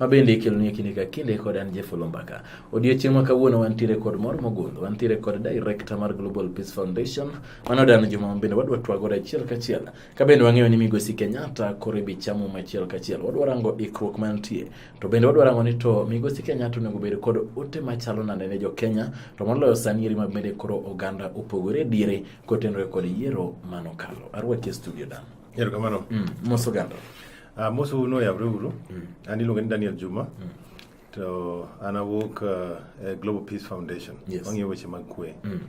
ma bende ikelonwa kinde ka kinde kod an Jeff Olombaka. Odiochieng' ma kawuono wantiere kod mor mogundho, wantiere kod director mar Global Peace Foundation, mano Dan Juma ma bende wadwa twagore achiel kachiel. Ka bende wang'eyo ni Migosi Kenyatta koro ibi chamo machiel kachiel, wadwa rango ikruok mantie. To bende wadwa rango ni to Migosi Kenyatta onego bed kod ote machalo nade ne jo Kenya, to moloyo sani eri ma bende koro oganda opogore diere kotenore kod yiero manokalo. Arwaki e studio Dan. Erokamano. Mm, mos oganda. Uh, mos un oyawre uru mm. an iluonge ni daniel juma mm. to an awuok uh, e global peace foundation yes. wang'iyo weche mag kwe mm.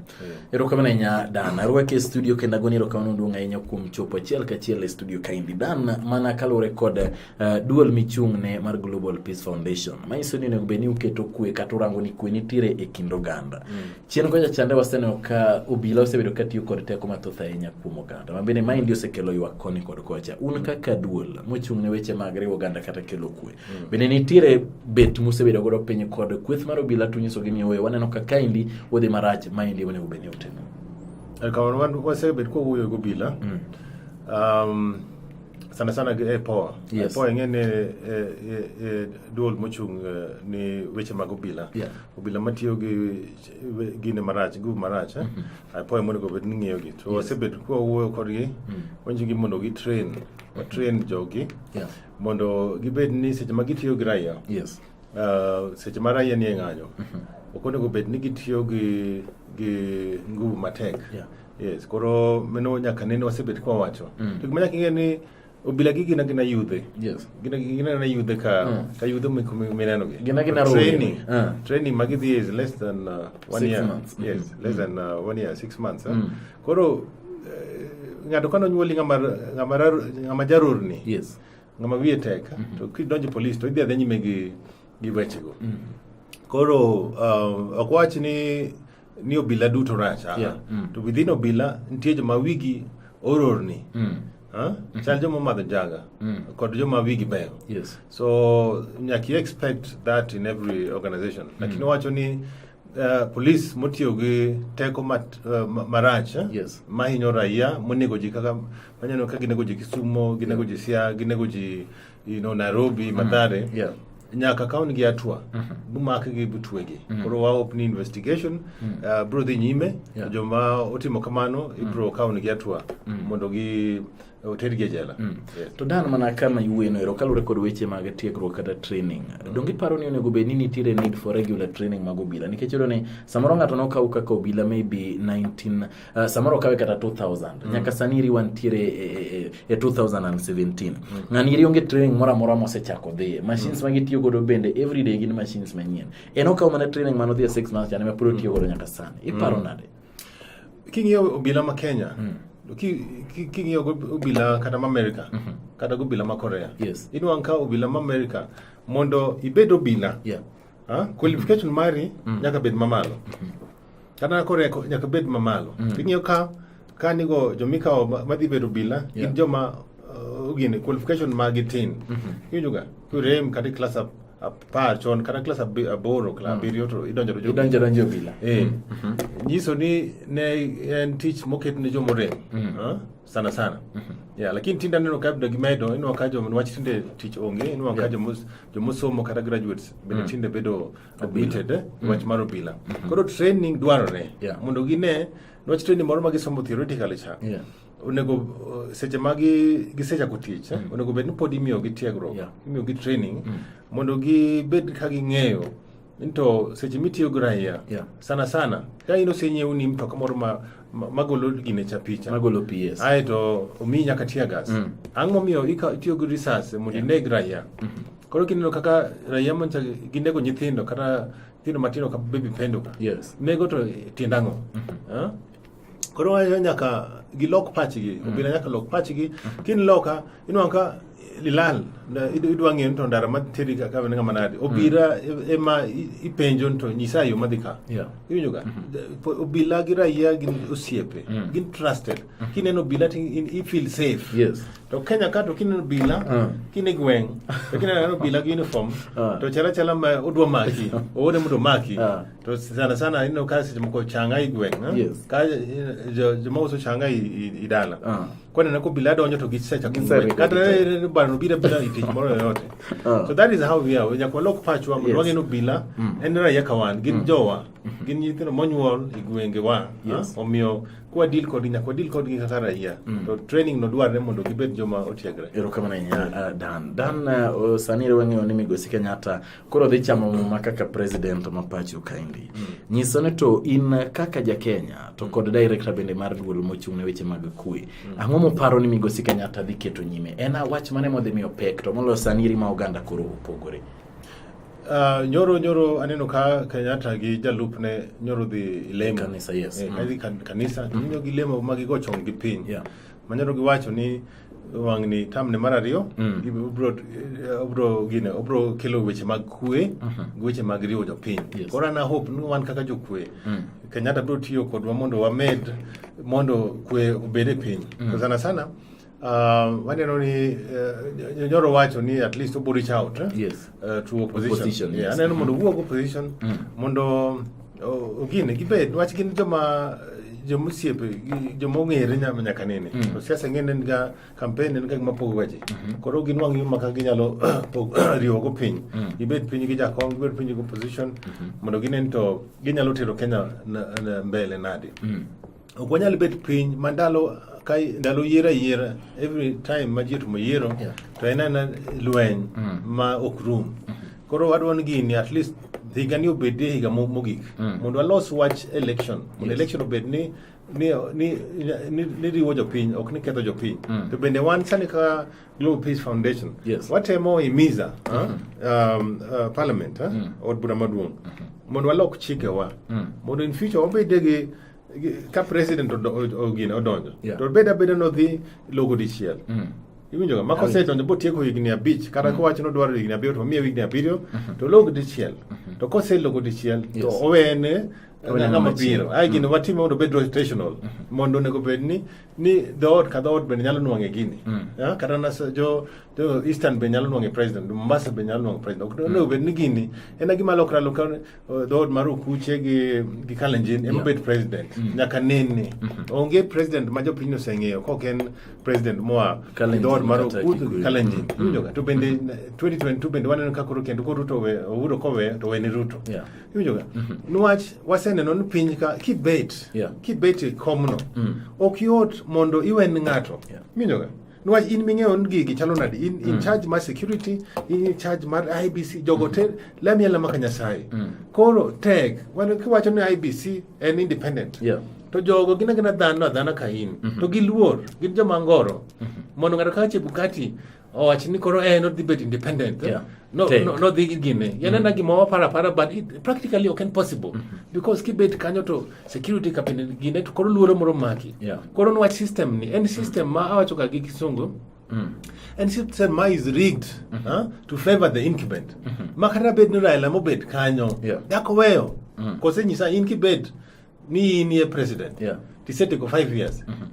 erokamano yeah. ahinya dan arwaki e studio kendo agoni erokamano duong' ahinya kuom chopo achiel kachiel e studio kaendi dan mana kaluwore kod uh, duol michung'ne mar global peace foundation manyiso ni onego bed ni uketo kwe kata urango ni kwe nitiere e kind oganda mm. Chien kocha chande waseneno ka obila osebedo ka tiyo kod teko mathoth ahinya kuom oganda. Mabende maendi osekelo ywak koni kod kocha. Un mm. kaka duol mochung' ne weche mag riwo oganda kata kelo kwe. Mm. Bende nitiere bet musebedo godo piny kod kweth mar obila to nyisogi ni owe waneno ka kaendi wadhi marach maendi onego bed ni otimo. Eh, kamano wan wasebet kwa wuoyo gi obila. Mm. Um, sana sana gi EPOA. Yes. EPOA ing'e ni e, e, e, duol mochung' eh, ni weche mag obila. Yeah. obila matiyo gi gine marach group marach eh? mm -hmm. apoya monego obed ni ng'iyogi to wasebet yes. kwawuoyo kodgi mm -hmm. wanyisogi mondo gitrain watrain mm-hmm. jogi yeah. mondo gibed ni seche ma gitiyo gi raia yes. uh, seche ma raia nie ng'anyo mm -hmm. ok onego obed ni gitiyo gi, gi nguvu matek yeah. yes koro meno nyaka nene wasebet kwawacho mm. to gima nyaka ing'e ni obila gi gina gina yudhe yes gina gina na yudhe ka mm. ka yudhe mi kumi mineno gi gina gina training uh. training magi dhi is less than uh, one six year months. Mm-hmm. yes mm. less than uh, one year six months huh? Eh? mm. koro eh, ng'ato kano nyuoli ng'ama ng'ama ng'ama jarurni yes ng'ama wiye tek mm -hmm. to kidonjo police to idhi adhi nyime gi gi wechego mm. koro uh, ok wach ni ni obila duto rach ah, Yeah, mm. to within obila nitie joma wigi ororni Mm. ah, chal joma madho njaga Mm. kod joma wigi beyo Yes. so nyaka you expect that in every organization lakini wacho ni uh, police motiyo gi teko mat, uh, ma- marach eh, Yes. mahinyo raia monego ji kaka manyano ka ginego ji kisumo ginego ji sia ginego ji you know, Nairobi, mm-hmm. Mathare. Mm -hmm. Yeah. nyaka ka wan gi atwa mm -hmm. bumakgi butwegi mm -hmm. koro waop ni investigation mm -hmm. uh, bro dhi nyime yeah. joma otimo kamano mm -hmm. ibro ka wan gi atwa mm -hmm. mondo gi otergi e jela mm. yes. to dan mana kama iwueno ero kaluwore kod weche mag tiegruok kata training mm. donge iparo ni onego bed ni nitiere need for regular training mag obila nikech iyudo ni samoro ng'ato nokaw kaka obila maybe 19 Uh, samoro kawe kata 2000 mm. nyaka sani iri wantiere e, e, e 2017 mm. ng'ani iri onge training moro amora mosechako dhiye machines mm. magitiyo godo bende everyday gin machines manyien en okawo mana training mano dhiye 6 months chane mapod otiyo mm. godo nyaka sani iparo mm. nade king'iyo obila ma kenya mm king'iyo obila kata ma america mm -hmm. kata gobila ma korea yes. inwang' ka obila ma america mondo ibed obila yeah. ha? Ah, qualification mari mm. nyaka bed mamalo mm -hmm. Kata kore nyaka bed mamalo. Mm. Ing'eyo ka ka nigo jomikawo madhi bedo bila yeah. gin joma uh, gini qualification ma gitin. Mm -hmm. Iwinjo ga kurem kata class up apar chon kata klas aboro klas mm. abiriyo to idonjo idonjo donjo bila eh mm. mm-hmm. nyiso ni ne en tich moket ne jomo rem mm. ah, sana sana mm-hmm. yeah lakini tinda neno ka bdo gimedo ino ka jomo wach tinde tich onge ino ka jomo jomo somo kata graduates bende tinde bedo admitted eh, mm. wach mar obila mm -hmm. koro training dwarore yeah. mondo gine wach training moro ma gisomo theoretically cha yeah. onego uh, seche ma gisechako tich eh, mm. onego bed ni pod imiyogi tiegruok yeah. imiyogi training mm. mondo gibed ka ging'eyo nto seche mitiyo gi raia yeah. sana sana ka in osenyiew ni mtoka moro ma magolo gine cha picha magolo PS aeto omiyi nyaka tear gas mm. ang'o momiyo itiyo gi risas mondo yeah. ineg raia mm -hmm. Koro kineno kaka raia mancha ginego nyithindo kata nyithindo matindo ka baby pendo ka. Yes. Nego to tiend ang'o? Mm -hmm. huh? Koro wacho nyaka gilok pachgi, mm -hmm. obila nyaka lok pachgi. Mm -hmm. Kin loka inwang ka lilal idwa ng'eyo ni to ndara materi ka kawe ng'ama nade mm. obira e, ema ipenjo ni to nyisa yo madhi ka iwinjo ga mm-hmm. obila gi raia gin osiepe mm. gin trusted mm-hmm. kineno obila to i feel safe yes to kenya ka to kineno bila uh. kine gweng to kineno bila gi uniform uh. to chala chala ma odwa maki owode mondo maki uh. to sana sana ineno ka seche moko changa i gweng eh? yes. ka joma uso changa i dala uh. kone na ko bila donjo to gisecha kumwe kata bano bila bila itich moro yoyote uh. so that is how we are we nyakwa lok pachwa yes. wange no bila mm. en raia kawan gin mm. jowa mm -hmm. gin nyithindo monyuol i gwenge wa yes. uh? omiyo kwa deal kod nyaka wadil kod gi kaka raia mm. to training no dwarre mondo gibed joma otiegre erokamano ahinya uh, ah, dan dan uh, sani ere wang'eyo ni migosi kenyatta koro dhi chamo muma kaka president ma pacho kaendi mm. nyiso ni to in kaka ja kenya to kod director bende mar duol mochung' ne weche mag kwe mm. ang'o moparo ni migosi kenyatta dhi keto nyime en awach mane modhi miyo pek to moloyo sani iri ma oganda koro opogore Uh, nyoro nyoro aneno ka Kenyatta gi jalupne nyoro dhi lemo kanisa yes eh, mm. kan, kanisa mm. nyoro gi lemo ma gigo chong gi piny yeah. ma nyoro giwacho ni wang'ni tamne mar ariyo mm. obro eh, obro gine obro kelo weche mag kwe uh mm-hmm. -huh. weche mag riwo jopiny yes. koro ana hope ni wan kaka jokwe mm. Kenyatta bro tiyo kodwa mondo wamed mondo kwe obed e piny mm. sana sana Um, waneno ni uh, nyoro wacho ni at least obo reach out eh? yes. uh, to opposition, opposition yeah, yes. aneno mondo mm-hmm. wuog opposition mm. mondo uh, ogine gibed wach gin joma jomosiepe joma ong'ere nyaka nene mm. to siasa ng'e nen ga campaign nen ga gima pogo weche mm-hmm. koro gin wang' yuma kaka ginyalo riwogo piny mm. gibed piny gi jakom gibed piny gi opposition mm-hmm. mondo ginen to ginyalo tero kenya mbele nade mm. ok wanyal bet piny ma ndalo ka ndalo yiero ayiera every time ma ji otumo yiero Yeah. to en ana lweny ma ok rum koro wadwa ni gini at least higani obedie higa mo- mogik mondo walos wach election mondo election obed ni ni, ni, ni, ni riwo jopiny ok ni ketho jopiny to bende wan sani ka global peace foundation Yes. watemo imiza ah, um, uh, parliament ah, od bura maduong' mondo walok chikewa mondo in future wabede gi ka president ogine odonjo yeah. to beda beda nodhi logo dichiel mm. iwinjoga ma kosedonjo botieko higni abich kata mm. kowacho nodwaro higni abiriyo to omiye higni abiriyo mm -hmm. to log dichiel mm -hmm. to koselogo dichiel yes. to owene ng'ama biro ae gini mm. watime mondo obed rotational mm -hmm. mondo onego bed ni ni dhoot ka dhoot bende nyalo nwang'e gini mm. yeah? kata nas, jo, jo eastern be nyalo nwang'e president mombasa be nyalo nwang'e president mm. onego bed ni gini en gima lokra lokra Uh, dhood mar okuche gi gi kalenjin ema obet president mm. nyaka nene mm-hmm. onge president ma jopiny oseng'eyo kok en president moa dhood mar okuth kalenjin mm. iwinjoga to bende 2022 mm-hmm. bende waneno ka koro kendo koruto ouro kowe to wene ruto iwinjoga mm-hmm. niwach waseneno ni piny ka kibet kibet e komno mm. ok yot mondo iwen ng'ato iwinjoga Nwach in ming'eyo ni gigi chalo nadi in, in mm. charge mar security in charge mar IBC jogo te lamia lama ka Nyasaye mm. koro tek wan kiwacho ni IBC en independent yeah. to jogo gina gina dhano adhana ka in mm -hmm. to giluor gin joma ngoro mm -hmm. mondo ng'ato kaka Chebukati owach ni koro en eh, odhi bet independent yeah. no, no, no dhi gine yanena mm. gima wapara para but it, practically ok en possible mm -hmm. because kibet kanyo to security cabinet gine to koro luoro moro maki yeah. koro nwach system ni en system ma awacho ka gi kisungu Mm. And she said, "My is rigged mm -hmm. huh, to favor the incumbent." Mm -hmm. Makata bed ni Raila mo bed kanyo. Yeah. Dako weyo. Mm -hmm. Kose nyisa incumbent ni ni president. Yeah. Tisete ko 5 years. Mm -hmm.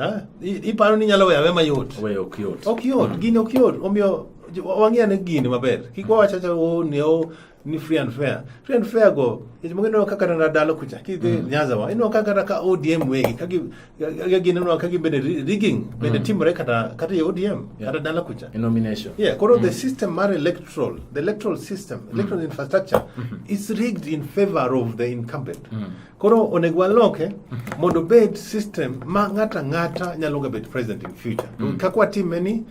Ah, iparo ni nyalo weya wema yot. Weyo ok yot. Ok yot, mm -hmm. gini ok yot. Omiyo wang'e ane gini maber. Kik wawacha cha o ne o ni free and fair free and fair go ejimo ngino kaka na dalo kucha ki de mm. nyaza wa ino kaka ka ODM we kagi kagi no kagi bede rigging bede mm. team re kata kata ODM yeah. kata dalo kucha In nomination yeah koro mm. the system mar electoral the electoral system mm. electoral infrastructure mm -hmm. is rigged in favor of the incumbent mm. koro onego waloke mm-hmm. mondo bed system ma ngata ngata nyalo ga bed president in future mm. kakwa team ni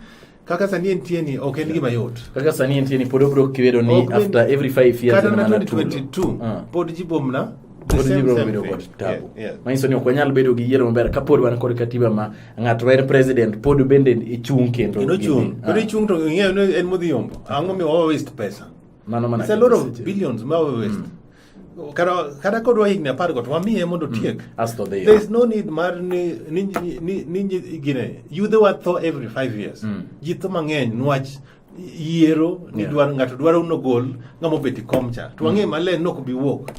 kaka sani entie ni ok en gima yot kaka sani entie ni pod obro kibedo ni Ok, after when- every 5 years kata na ema natulo. 2022 Ah. pod jibomna the Pod same, ibiro same bedo thing. kod tabu. Yeah, yeah. manyiso ni ok wanyal bedo gi yiero maber ka pod wan kod katiba ma ng'ato ma en president pod bende ichung' kendo Kendo chung Ah, kendo ichung to ing'eyo ni en modhi yombo ang'o mi wawa waste pesa mano mana It's a lot ketho of seche. billions ma wawa waste kata kodwa higni apar go to wamiye mondo otiek mm. asto odhi there is no need mar ni ni ni ni gine yudhe wa tho every 5 years mm. ji tho mang'eny nwach yiero ni yeah. dwaro ng'ato dwaro nogol ng'ama obet e kom cha to wang'e mm. maler ni ok bi wuok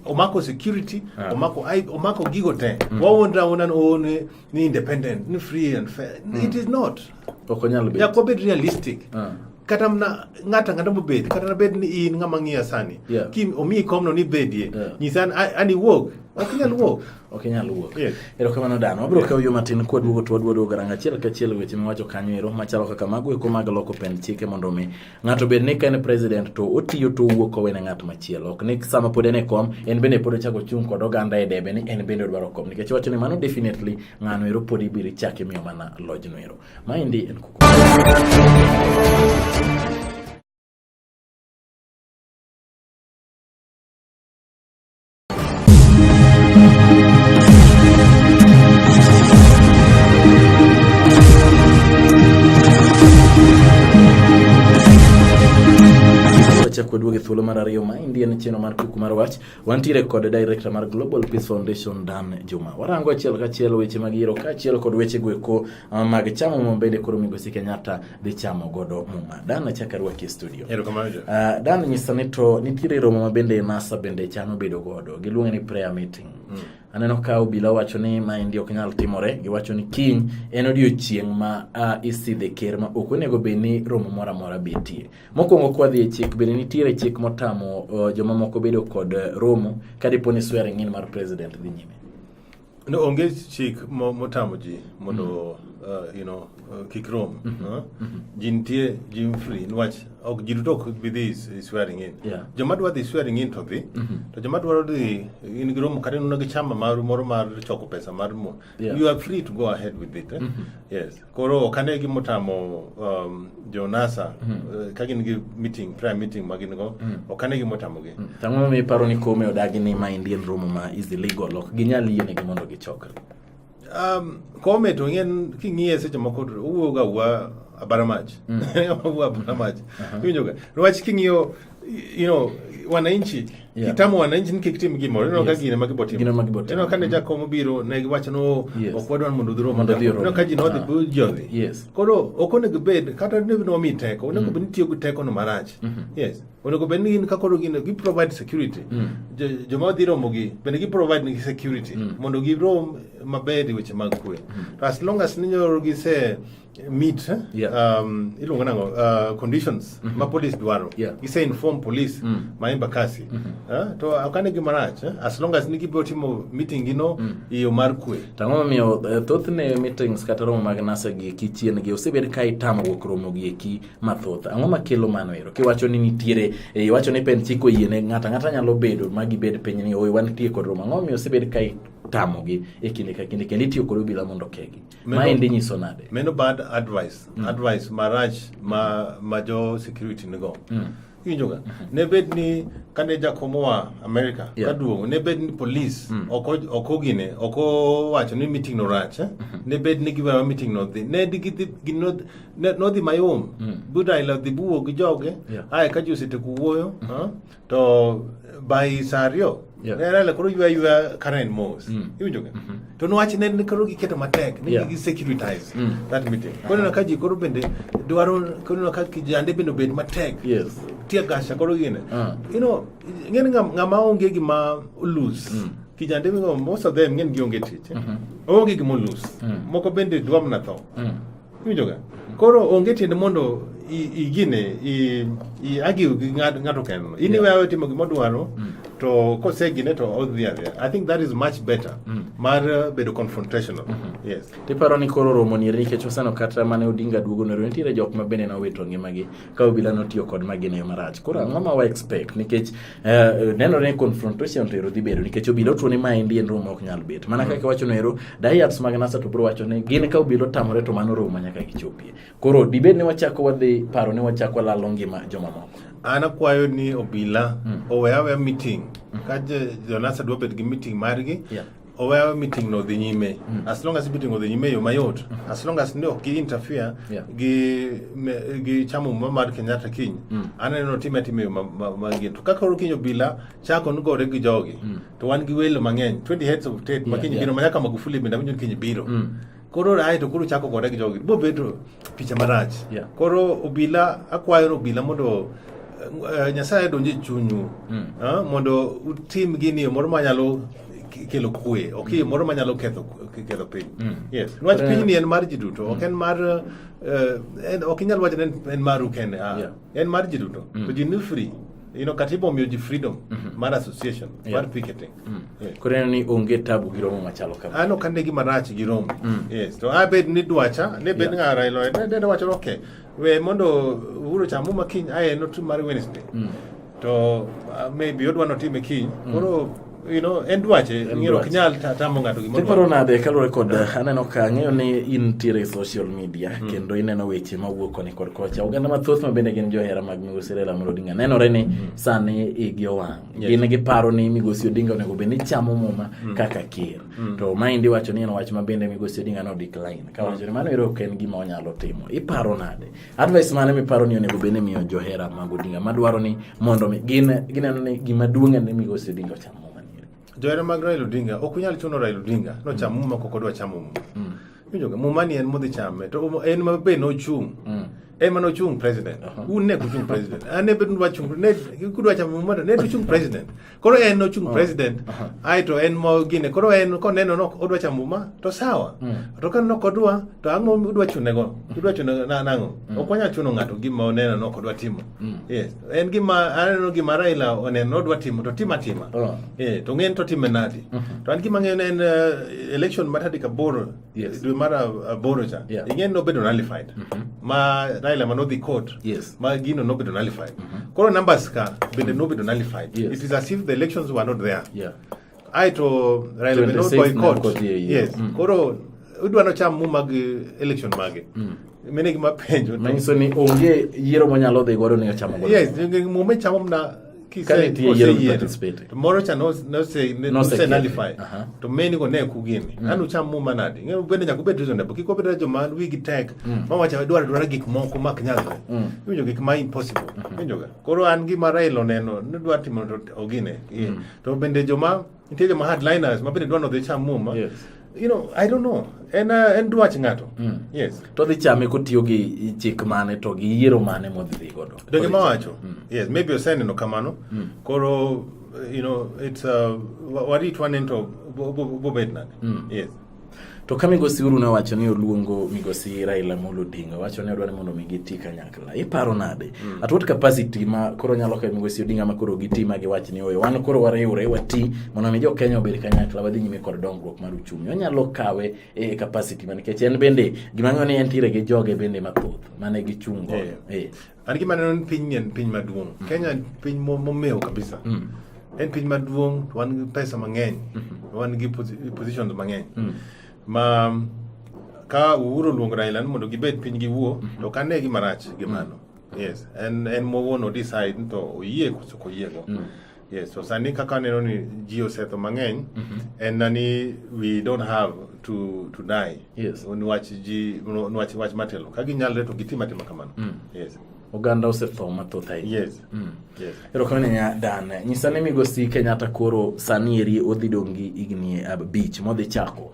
omako security yeah. omako omako gigo te mm. wawuondra wuonda ni oone ni independent ni free and fair mm. it is not okonyal be yako bit realistic uh. kata mna ngata ngata mobed kata na bed ni in ngama ngiya sani yeah. kim omi kom no ni bedie yeah. nyisan ani wog okinyal wog okinyal wog yes. erokamano dano wabiro yeah. kawo yo matin kwaduogo to waduodo garanga achiel kachiel weche miwacho kanyo ero machalo kaka mago eko mag loko pend chike mondo mi Ng'ato bed ni ka en president to otiyo to owuok owene ng'at machielo. Ok ni sama pod en e kom, en bende pod ochako chung' kod oganda e debe ni en bende odwaro kom. Nikech wacho ni mano definitely ng'ano ero pod ibiro chak imiyo mana lojno ero. Maendi en kuku. chako duogo e thuolo mar ariyo ma endi en cheno mar kuku mar wach wantiere kod director mar global peace foundation dan juma warango achiel kachiel weche mag yiero kaachiel kod weche goeko Ah, mag chamo muma bende koro migosi Kenyatta dhi chamo godo muma. Dan achaka rwaki e studio. Erokamano jo. Uh, Dan nyisa ni to nitiere romo ma bende NASA bende chano bedo godo. Giluonge ni prayer meeting. Mm. Aneno ka obila wacho ni ma endi ok nyal timore, giwacho ni kiny en odiochieng' ma uh, isidhe ker ma ok onego bed ni romo moro amora betie. Mokwongo kwadhi e chik bende nitiere chik motamo uh, jomamoko bedo kod uh, romo ka dipo ni swearing in mar president dhi nyime. No, onge chik motamo ji mondo mm. uh, you know, uh, kik rom. Mm -hmm. uh? mm -hmm. Ji nitie, ji free. Nwach, ok, ji duto ok bi dhi swearing in. Yeah. Joma dwa dhi swearing in to dhi. Mm -hmm. To joma dwaro dhi, in gi romo kata nuna gi chama mar, moro mar choko pesa mar mo. Yeah. You are free to go ahead with it. Eh? Mm -hmm. Yes. koro kane gimotamo um, jonasa mm. uh, ka gin gi meeting prayer meeting ma gin go mm. ok ane gimotamogi mm. ang'o mi iparo ni kome odagi ni ma indian room ma is illegal ok ginyal yienegi mondo gichokre um, kome to ng'en king'iye seche moko owuoga wuoga abara mach mm. owuoga abara mach uh-huh. iwinjoga niwach king'iyo you know wananchi yeah. kitamo wananchi nike kitim gimoro ineno ka gine ma gibotimo ineno ka ne jakom obiro ne giwacho ni oh, ok wadwa ni mondo udhiro mondo ineno ka ji nodhi ah. jodhi koro ok onego bed kata ne wami teko onego mm. bed ni tiyo gi tekono marach mm-hmm. yes onego bed ni gin ka koro gin gi provide security mm. joma odhi romogi bende gi provide nigi security mm. mondo girom maber e weche mag kwe mm. as long as ninyoro gise meet eh? yeah. um, iluongo nango uh, conditions mm -hmm. ma police dwaro yeah. ise inform police mm. ma embakasi mm -hmm. uh, to akane gima rach eh? as long as nigibiro timo meeting gino mm. iyo mar kwe to ang'o momiyo uh, thothne meetings kata romo mag nasa gi eki chien gi osebed ka itamo wuok romo gi eki mathoth ang'o makelo mano ero kiwacho ni nitiere eh, iwacho ni pen chiko yie ne ng'ata ng'ata nyalo bedo ma gibed piny ni oyo wantie kod romo ang'o momiyo osebed ka tamogi e kinde ka kinde kendo itiyo kod obila mondo okegi Maendi nyiso nade? Meno bad advice, mm. advice marach ma ma jo security nigo. Mm. Iwinjoga. Mm-hmm. Ne bed ni kane jakom oa Amerika yeah. kaduong' ne bed ni polis mm. ok ogine ok owacho ni meeting no rach eh? mm-hmm. ne bed ni giwewa meeting no dhi ne nodhi mayom mm. budaila dhi buwo gi joge yeah. ae ka ji osetieko wuoyo mm-hmm. to by sario Yeah. ne Raila koro ywa ywa Karen Moss Mm. iwinjo ga Mhm. to niwach ne ne koro giketo matek ni Yeah. gi securitize Mm. that meeting koro ineno ka ji koro bende dwaro koro ineno ka kijande bende obed matek Yes. tie gasha koro gine Ah. you know ng'en ng'a- ng'ama onge gima olus Mm. kijande go most of them ng'en gionge tich Mhm. onge gima olus Mm. moko bende dwa mana tho Mm. Iwinjoga? Koro onge tiende mondo igine agiw gi ng'ato kendno. In iwe awe timo gima odwaro mm. to kosegine to odhi adhiya. I think that is much better mm. mar uh, bedo confrontational. Mm-hmm. Yes. Tiparo ni koro romo ni nikech oseno kata mane Odinga duogo ne nitiere jok ma bende nowito ngimagi. ka obila notiyo kod magina yo marach koro ang'o ma wa expect nikech uh, nenore ni confrontation to ero dhi bedo nikech obila otuo ni ma endi en room ok nyal bet mana kaka wacho no ero diets mag nasa to bro wacho ni gin ka obila otamore to mano room nyaka gichopie koro dibed ni wachako wadhi paro ni wachako walalo ngima jomamoko an akwayo ni obila mm. owe awe meeting mm. ka jonasa dwa bed gi meeting margi yeah. oweyo meeting no dhi nyime mm. as long as meeting odhi nyime yo mayot mm. as long as ndio ki interfere yeah. gi me, gi chamo muma mar Kenyatta kiny mm. aneno time time yo mangin to kaka orukinyo bila chako nugore gi jogi mm. to wan gi welo mang'eny 20 heads of state yeah, makinyi yeah. biro manyaka Magufuli bende winjo kinyi biro mm. koro ae to koro chako gore gi jogi bobedo picha marach yeah. koro obila akwayo obila mondo uh, nyasaye donje e chunyu mm. uh, mondo utim gini moro manyalo kelo kwe ok mm. moro manyalo ketho ketho piny mm. yes nwach uh, piny ni en mar ji duto ok mm. en mar uh, ok inyal wacho ni en maru kende uh, yeah. en mar ji duto mm. to ji ni free you know katiba omiyo ji freedom mm -hmm. mar association yeah. mar picketing Mm. Eh. Koro ineno ni onge tabu gi romo machalo kama. An ok ane gima rach gi romo. Mm. Yes, to abed ni dwacha, ne bed ng'a Raila Odinga, ne dwacha okay. We mondo Uhuru cha muma kiny aye no tu mar Wednesday. Mm. To uh, maybe odwa no time kiny. Mm. Koro you know en dwache ng'iro ok nyal tamo ng'ato gimoro. Tiparo nade kaluwore kod uh, aneno ka ang'eyo ni in tiere social media mm. kendo ineno weche mawuok koni kod kocha. Oganda mathoth ma bende gin johera mag Migosi Raila Amolo Odinga nenore ni mm. sani igi owang'. Yes. Gin giparo ni Migosi Odinga onego bed ni chamo muma mm. kaka ker. Mm. To maendi wacho ni en wach ma bende Migosi Odinga no decline. Ka wacho ni mano ero ok en gima onyalo timo. Iparo nade? Advice mane miparo ni onego bed ni miyo johera mag Odinga madwaro ni mondo gin gineno ni gima duong' en ni Migosi Odinga ocham muma. Johera mag Raila Odinga ok unyal chuno Raila Odinga no cham mm. muma kok odwa chamo muma. Mm. Muma ni en modhi chame to en ma be nochung'. Mm. ema no chung president un ne kuchung president an ne bedun wachung ne kudwa cha mumata ne kuchung president koro en no chung president ai to en mo gine koro en ko neno no odwa cha muma to sawa to kan no kodwa to ango udwa chune go udwa chune na nango okonya chuno ngato gima oneno no kodwa timo yes en gima aneno gima Raila oneno odwa timo to tima tima eh to ngen to time nadi to an gima ngen en election matadi kaboro Yes. dwe mar ab- aboro cha Yeah. Mhm. ing'e ni nobedo nullified ma Raila ma nodhi court Yes. Mhm. ma gino nobedo nullified koro numbers ka bende nobedo nullified Yes. it is as if the elections were not there Yeah. ae to Raila be 26 not boycott Narcot, yeah, yeah. yes Mm. koro udwa nocham mu mag eh, election mage Mm. mine gima penjo to- Manyiso ni onge yiero monyalo dhi godo ni ochamo godo. yes muma ichamo mna ki Ka sen nitie yiero gi koseyiero participate. to moro cha nos- nose- ne- Nose- nose nullify Aha. to many go ne kugini an ucham muma nadi ng'e bende nyaka ubed reasonable kik obed joma wigi tek ma wacha dwaro dwaro gik moko mak nyalre iwinjo gik ma impossible iwinjoga koro an gima Raila oneno ni dwa timo to ogine to bende joma nitie joma hardliners mabende dwa nodhi cham muma yes. you know, I don't know. En, uh, en dwach ng'ato. Mm. Yes. To dhi chame kotiyo gi chik mane to gi yiero mane modhi dhi godo. Donge ma wacho. Mm. Yes, maybe oseneno kamano. Mm. Koro you know, it's uh, warit waneno to bobed nade. Mm. Yes. To ka migosi Uhuru ne owacho ni oluongo migosi Raila Amolo Odinga, wacho ni odwaro mondo mi giti kanyakla. Iparo nade? Mm. At what capacity ma koro nyalo kawo migosi Odinga ma koro giti ma giwach ni oyo, wan koro wariwre wati mondo mi jo Kenya obed kanyakla wadhi nyime kod dongruok mar uchumi. Onyalo kawe e capacity ma nikech en bende gima ng'eyo ni entiere gi joge bende mathoth mane gichungo. Yeah. Yeah. An gima neno ni piny en piny maduong'. Mm. Kenya en piny mo- momewo kabisa. Mm. En piny maduong' to wan gi pesa mang'eny. Wan gi posi- positions mang'eny. Mm. Ma ka Uhuru oluongo Raila ni mondo gibed piny giwuo to ok ane gima rach gi mano. Yes, en en mowuon o decide ni to oyie koso ok oyiego. Yes, so sani kaka aneno ni ji osetho mang'eny mm -hmm. en na ni we don't have to, to die yes. niwach ji niwach wach matelo ka ginyalre to gitim atima kamano mm. yes. oganda osetho mathoth ahinya yes. mm. yes. erokamano nya dan nyisa ni migosi kenyatta koro sani eri odhi dongi higni abich modhi chako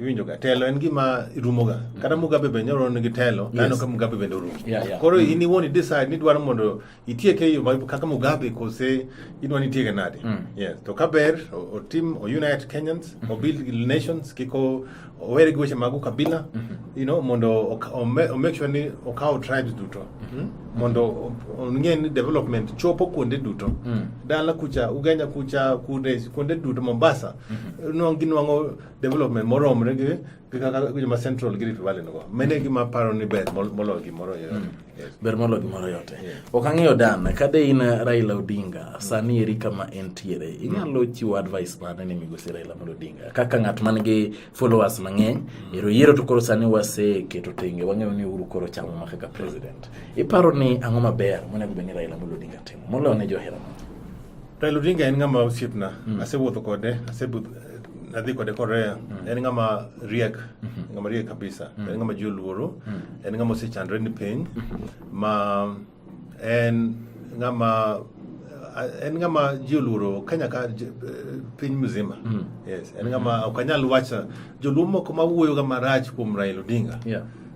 iwinjoga telo en gima rumoga kata mugabe be nyoro nigi telo nano ka mugabe bende orumo Yeah, yeah. koro in iwuon i decide ni dwaro mondo itieke e yo ma- kaka mugabe kose idwa ni itieke nade yes to ka ber o- otim o unite kenyans o build nations kik o- owere gi weche mag ukabila you know mondo ok- ome- o make sure ni okawo tribes duto Mm? mondo o- ong'e ni development chopo kuonde duto dala kucha ugenya kucha kuonde kuonde duto mombasa nwangi nwango development moromre gi gi kaka joma central gi rift valley nigo mene gima paro ni ber mol- moloyo gimoro yote Hmm. Yes. ber molo gimoro yote ok ang'eyo dan kade in raila odinga sani eri kama entiere inyalo chiwo advice mane ni migosi raila amolo odinga kaka ng'at man gi followers mang'eny ero yiero to koro sani waseketo tenge wang'eyo ni uhuru koro chamo ma kaka president iparo ni ang'o maber monego bed ni raila amolo odinga timo moloyo ne johera mage? Raila Odinga en ng'ama osiepna. Mm. Asewuotho kode, asebudh nadhi kode Korea. Mm. En ng'ama riek, mm -hmm. ng'ama riek kabisa. Mm. En ng'ama ji oluoro, mm. en ng'ama osechandre ni piny mm-hmm. ma en ng'ama en ng'ama ji oluoro Kenya ka piny mzima. Mm. Yes, en ng'ama mm-hmm. ok anyal wacha joluo moko ma wuoyoga marach kuom Raila Odinga. Yeah.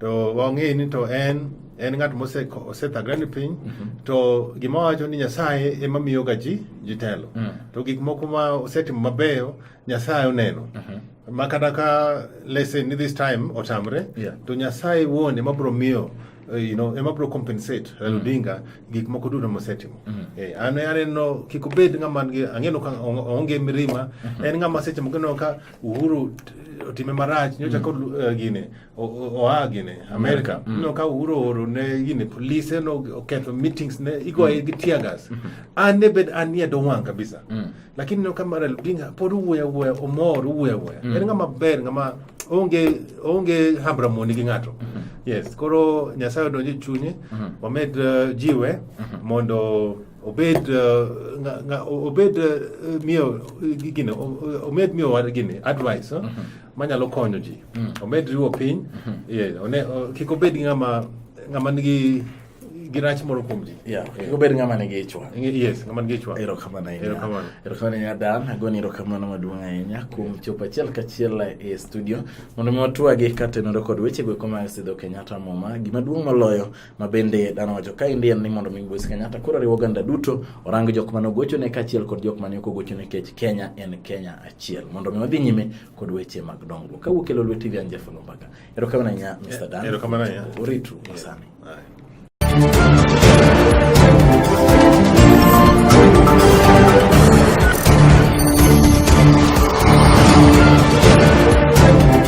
to wang'e ni to en en ng'at mosethagre ni piny mhm. to gima wacho ni nyasaye ema miyoga ji jitelo mm. to gik moko ma osetimo mabeyo nyasaye oneno mhm. ma kata ka lesson ni this time otamre to nyasaye wuon ema bro miyo Uh, you know, ema bro compensate mm. Raila Odinga gik moko duto mosetimo. Mm. Eh, an aneno kik obed ng'ama ngi ang'eno ka onge mirima. Mm-hmm. En ng'ama seche moko ka Uhuru otime marach nyocha mm. kod uh, gine oa gini Amerika mm. no ka uro oro ne gini polise no oketho meetings ne igoye mm. gi tear gas mm-hmm. an ne bed an nie do wang kabisa mm. lakini no kama Raila Odinga pod uwuoya wuoya omor uwuoya wuoya mm. en ng'ama ber ng'ama onge onge hambra moni gi ng'ato mm-hmm. yes koro Nyasaye odonje chunye mm-hmm. wamed uh, jiwe mondo obed uh, obed uh, miyo gine omed miyo war gine advice uh, manyalo konyo ji mm. omed riwo piny mm-hmm. kik obed ng'ama nigi gi rach moro kuom ji yeah. yeah. obed ng'ama nigi ichwa yes ng'ama nigi ichwa erokamano ahinya erokamano erokamano ahinya dan agoni erokamano maduong' ahinya kuom yeah. chopo achiel kachiel e studio mondo mi watwagi katenore kod weche go koma sidho kenyatta muma gima duong' moloyo ma bende dano wacho ka endi en ni mondo mi Mbusi Kenyatta koro riwo oganda duto orang jok mane ogochone kaachiel kod jok mane ok ogochone kech Kenya en Kenya achiel mondo mi wadhi nyime kod weche mag dongruok kawuok kelo lwe TV Anja Fulu Mbaka erokamano ahinya Mr. Dan erokamano ahinya uritu masani